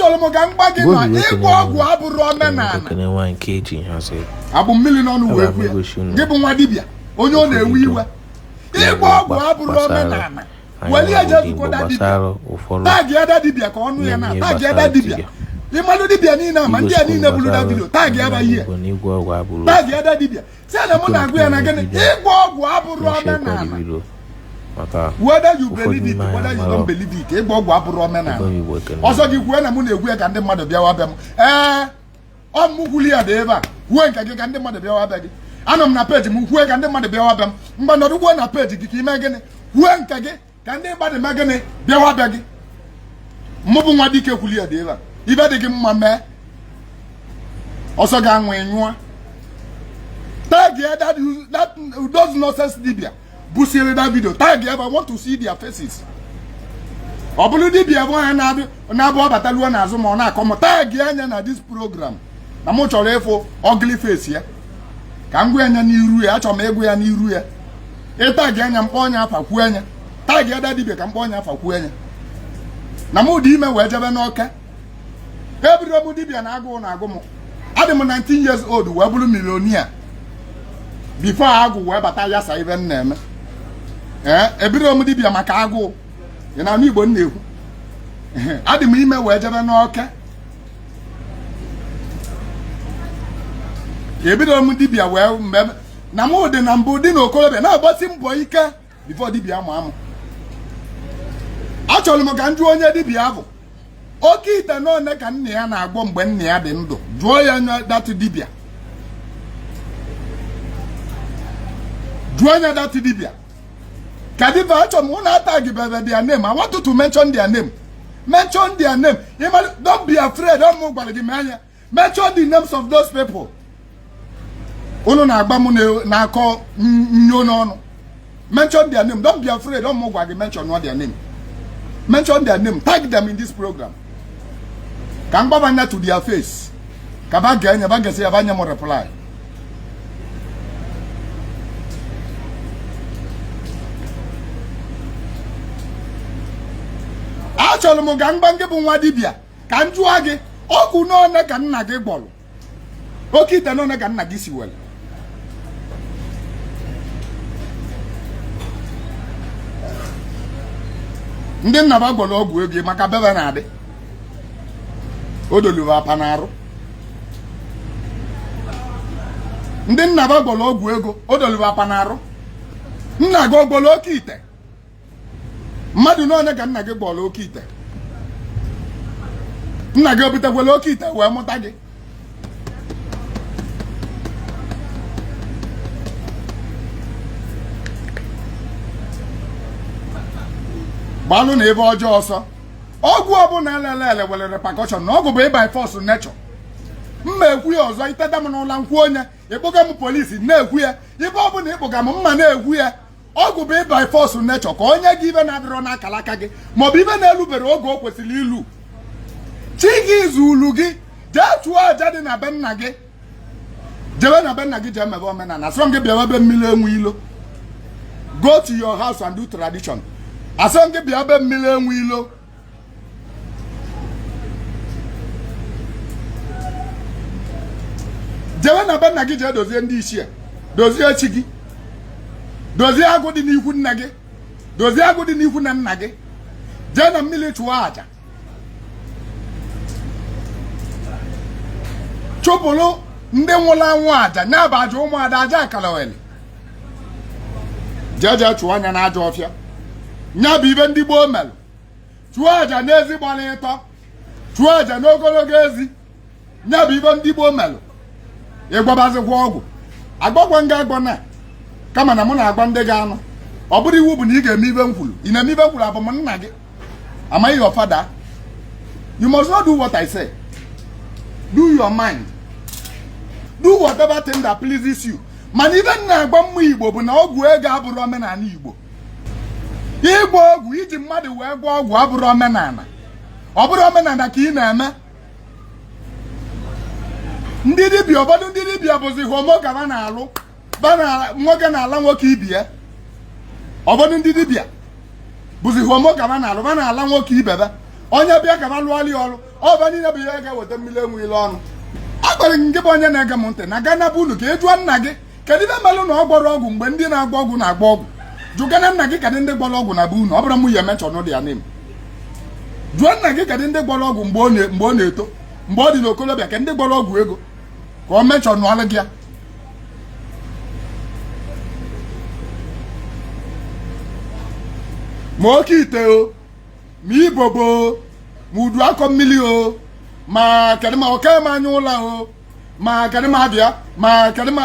chọrọ m ka m gwa gị na ịgwọ ọgwụ abụrụ omenala ebu mmiri n'ọnụ wee kwu ya gị bụ nwa dibịa onye ọ na-ewe iwe ịgwọ ọgwụ abụrụ omenala weli ya jee zukọta dibịa tag ya that dibịa ka ọ nụ ya na tag ya that dibịa ị malụ dibịa niile ma ndị a niile buru that video tag ya that ihe tag ya that dibịa sị ya na mụ na-agwa ya na gịnị ịgwọ ọgwụ abụrụ omenala whether you believe it whether you don't believe it ịgwọ ọgwụ abụrụ omenala ọ sọ gị kwue na mụ na-ekwu ya ka ndị mmadụ bịawa be m ee ọ mụ kwuli ya dị ebe a kwue nke gị ka ndị mmadụ bịawa be gị anọ m na page m kwue ka ndị mmadụ bịawa be m mgbe nọdụ kwuo na page gị ka i mee gịnị kwue nke gị ka ndị mmadụ mee gịnị bịawa be gị mụ bụ nwa dike kwuli ya dị ebe a ive dị gị mma mee ọ sọ gị anwụ nyụọ tag ya that, that those nonsense dibia busiri that video tag ya I want to see their faces ọ bụrụ dibia bụ a na-abụ ọ bata luo n'azụ m ọ na-akọ m tag ya nya na this program na mụ chọrọ ịfụ ugly face ya ka m gwa ya nya n'iru ya achọrọ m ịgwa ya n'iru ya ị tag nya m kpọọ nya afa kwuo nya tag ya that dibia ka m kpọọ nya afa kwuo nya na mụ adị ime wee je be nwoke ebidoro m dibia na agụụ na-agụ m adị m 19 years old wee bụrụ millionaire before agwụ wee bata yasaa ive m na-eme ee ebidoro m dibia maka agụụ ị na-anụ Igbo m na-ekwu adị m ime wee je be nwoke ebidoro m dibia wee mgbe na m dị na mbụ dị n'okorobịa na-agbasi mbọ ike before dibịa maa mụ achọrọ m ka m jụọ nya dibịa bụ oke ite n'one ka nna ya na-agwọ mgbe nna ya dị ndụ jụọ ya nya that dibịa jụọ nya that dibịa ka dibịa achọ m unu atagị bebe their name I want you to mention their name mention their name don't be afraid ọ mụ gwara gị mee nya mention the names of those people unu na-agwa m na-akọ nyo n'ọnụ mention their name don't be afraid ọ mụ gwara gị mention nụ their name mention their name tag them in this program ka m gwa ba nya to their face ka ba gee nya ba gesịa ba nye m reply achọrọ m ka m gwa gị bụ nwa dibia. ka m jụọ gị ọgwụ n'one ka nna gị gwọrọ oke ite n'one ka nna gị siwere ndị nna ba gwọrọ ọgwụ ego maka bebe na-adị o dolu ba apa n'arụ ndị nna ba gwọrọ ọgwụ ego o dolu ba apa n'arụ nna gị ọ gwọrọ oke ite mmadụ n'onye ka nna gị gwọrọ oke ite nna gị obutekwala oke ite wee mụta gị gbalụ na ive ọjọọ ọsọ ọgwụ ọbụla elele ele nwere repercussion na ọgwụ bụ by force nature m ma ekwu ya ọzọ i teta m n'ụla m kwuo nya ị kpọga m police na-ekwu ya ebe ọbụla ị kpọga m m ma na-ekwu ya ọgwụ bụ by force nature ka o nye gị ive na-adịrọ n'akala aka gị maọbụ ive na-elubere oge o kwesịrị ilu chi gị zulu gị jee chụọ aja dị na be nna gị jebe na be nna gị jee mebe omenala asịrọ gị bịawa be mmiri enwe ilo go to your house and do tradition asịrọ gị bịa be mmiri enwe ilo jewe na be nna gị jee dozie ndị ichie dozie chi gị dozie agwụ dị n'ikwu nna gị dozie agwụ dị n'ikwu nne nna gị jee na mmiri chụọ aja chụpụrụ ndị nwụrụ anwụ aja nya bụ aja ụmụada aja akalogheli jeje chụọ nya na ajọ ọfịa nya bụ ive ndị gboo melu chụọ aja n'ezi gbara ịtọ chụọ aja n'ogologo ezi nya bụ ive ndị gboo melu ị gwọbazikwa ọgwụ agwagwa nga agwọ na kama na mụ na-agwa ndị ga-anụ ọ bụrọ iwu bụ na ị ga-eme ive m kwuru ị na-eme ive m kwuru abụ m nna gị Am I your father? You must not do what I say. Do your mind. Do whatever thing that pleases you. mana ive m na-agwa ụmụ igbo bụ na ọgwụ ego abụrọ omenala igbo ịgwọ ọgwụ iji mmadụ wee gwọọ ọgwụ abụrọ omenala ọ bụrọ omenala ka ị na-eme ndị dibịa ụfọdụ ndị dibịa bụzi homo ka va na-alụ nwoke na-ala nwoke ibe ya ụfọdụ ndị dibịa bụzi homo ka va na-alụ va na-ala nwoke ibe va onye bịa ka va lụọlụ ya ọrụ ọ va niile bụ ihe ga-eweta mmiri enwe ilo ọnụ a gwara gị nke bụ onye na-ege m ntị na gaa na be unu ka ị jụọ nna gị kedu ive melụ na ọ gwọrọ ọgwụ mgbe ndị na-agwọ ọgwụ na-agwọ ọgwụ jụgana nna gị kedụ ndị gwọrọ ọgwụ na be unu ọ bụrụ mụ ya mention ụdị ya name jụọ nna gị kedụ ndị gwọrọ ọgwụ mgbe ọ na-eto mgbe ọ dị n'okolobịa kedụ ndị gwọrọ ọgwụ ego ka ọ mentionụọlụ gị ya ma oke ite o ma ibobo o ma udu akọ mmiri o ma kedụ ma oke ma anya ụla o ma kedụ ma abịa ma kedụ ma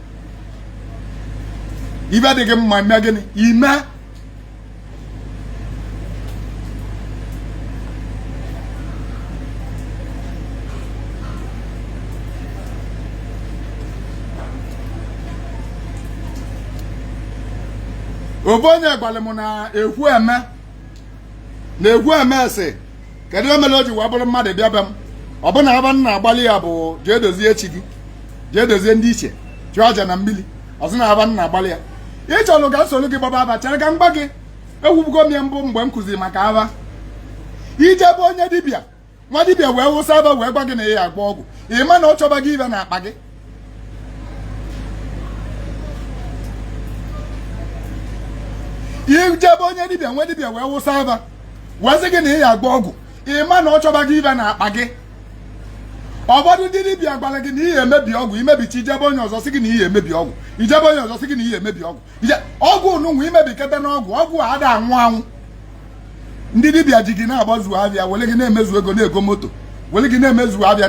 ive dị gị mma mee gịnị ime ovu onye gwara m na ekwueme na ekwueme sị kedu ihe mere o ji wee bụrụ mmadụ bịa be m ọ bụ na ava m na-agbalị ya bụ jee dozie chi gị jee dozie ndị ichie chụọ aja na mmiri ọzọ na ava m na-agbalị ya ị chọrọ ka m solu gị gbaba ava chere ka m gwa gị ekwubugo m ya mbụ mgbe m kụziri maka ava i je be onye dibịa nwa dibịa wee wụsa ava wee gwa gị na ị ya agba ọgwụ ị ma na ọ chọba gị ive na akpa gị i je be onye dibịa nwa dibịa wee wụsa ava wee sị gị na ị ya agba ọgwụ ị ma na ọ chọba gị ive na akpa gị ụfọdụ ndị dibịa gwara gị na ị ya emebi ọgwụ i mebicha i je be onye ọzọ sị gị na ị ya emebi ọgwụ i je be onye ọzọ sị gị na ị ya emebi ọgwụ ọgwụ nụnwa i mebikata n'ọgwụ ọgwụ a ada anwụ anwụ ndị dibịa ji gị na-agbazu avịa were gị na-emezu ego na-ego moto were gị na-emezu avịa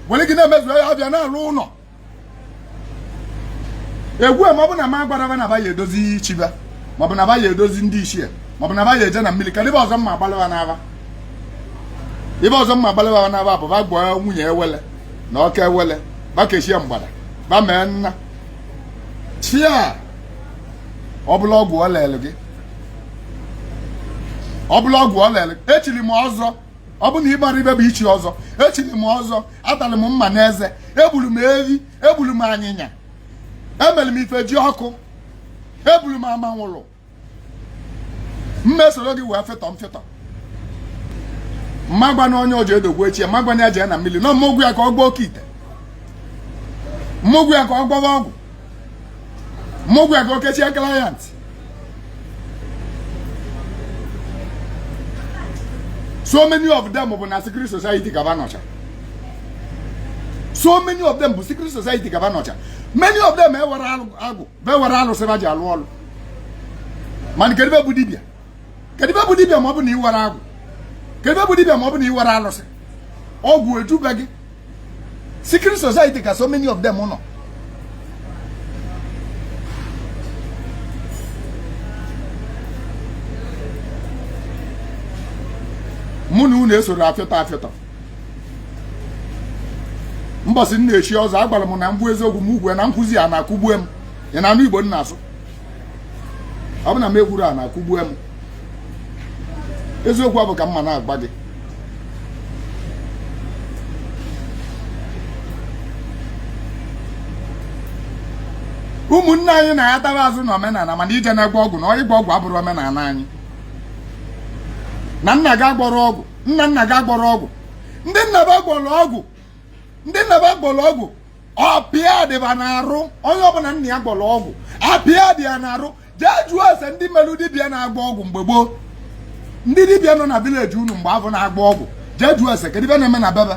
were gị na-emezu avịa na-alụ ụlọ egwu ma ọ bụ na m agbara va na va ya edozi chi va maọbụ na va ya edozi ndị ichie maọbụ na va ya eje na mmiri kedụ ive ọzọ m ma agbalị va n'ava ive ọzọ m ma agbalị va n'ava bụ va gwọọ nwunye ewele na oke ewele va kechie mgbada va mee nna chi a ọ bụla ọgwụ ọ lelụ gị ọ bụla ọgwụ ọ lelụ echiri m ọzọ ọ bụ na ị marọ ive bụ ichi ọzọ echiri m ọzọ atalị m mma n'eze egburu m ehi egburu m anyịnya emere m ifejiọkụ egburu m amanwụlụ mmesoro gị wee fetọ mfetọ m ma agwa na onye oji edogwu chi ya m ma agwa na ya jee na mmiri na m ma agwa ya ka ọ gbaa oke ite m ma agwa ya ka ọ gbaba ọgwụ m ma agwa ya ka o kechie client so many of them bụ na secret society ka va nọcha so many of them bụ secret society ka va nọcha many of them enwerọ agwụ va enwerọ alụsị va ji alụ ọlụ mana kedu ive bụ dibịa kedu ive bụ dibịa ma ọ bụ na iwere agwụ kedu ebe bụ dibịa ma ọ bụ na i nwerọ alụsị ọgwụ ejube gị secret society ka so many of them nọ mụ na unu esoro afịọtọ afịọtọ mbọsị m na-echi ọzọ agwara m na mbụ eziokwu m ugwe na nkụzi a na-akụgbue m ị na-anụ igbo m na-asụ ọ bụ na m ekwuru a na-akụgbue m eziokwu ọ bụ ka mụ na-agwa gị ụmụnne anyị natara azụ na omenala mana ị je na-agwọ ọgwụ na ịgwọ ọgwụ abụrọ omenala anyị na nna gị agwọrọ ọgwụ nna nna gị agwọrọ ọgwụ ndị nna ba gwọrọ ọgwụ ọpịa dị ba n'arụ onye ọbụla nna ya gwọrọ ọgwụ apịa dị ya n'arụ jee jụọ ese ndị melụ dibịa na-agwọ ọgwụ mgbe gboo ndị dibịa nọ na village unu mgbe afụ na-agwọ ọgwụ jee jụọ ese kedu ibe na-eme na be be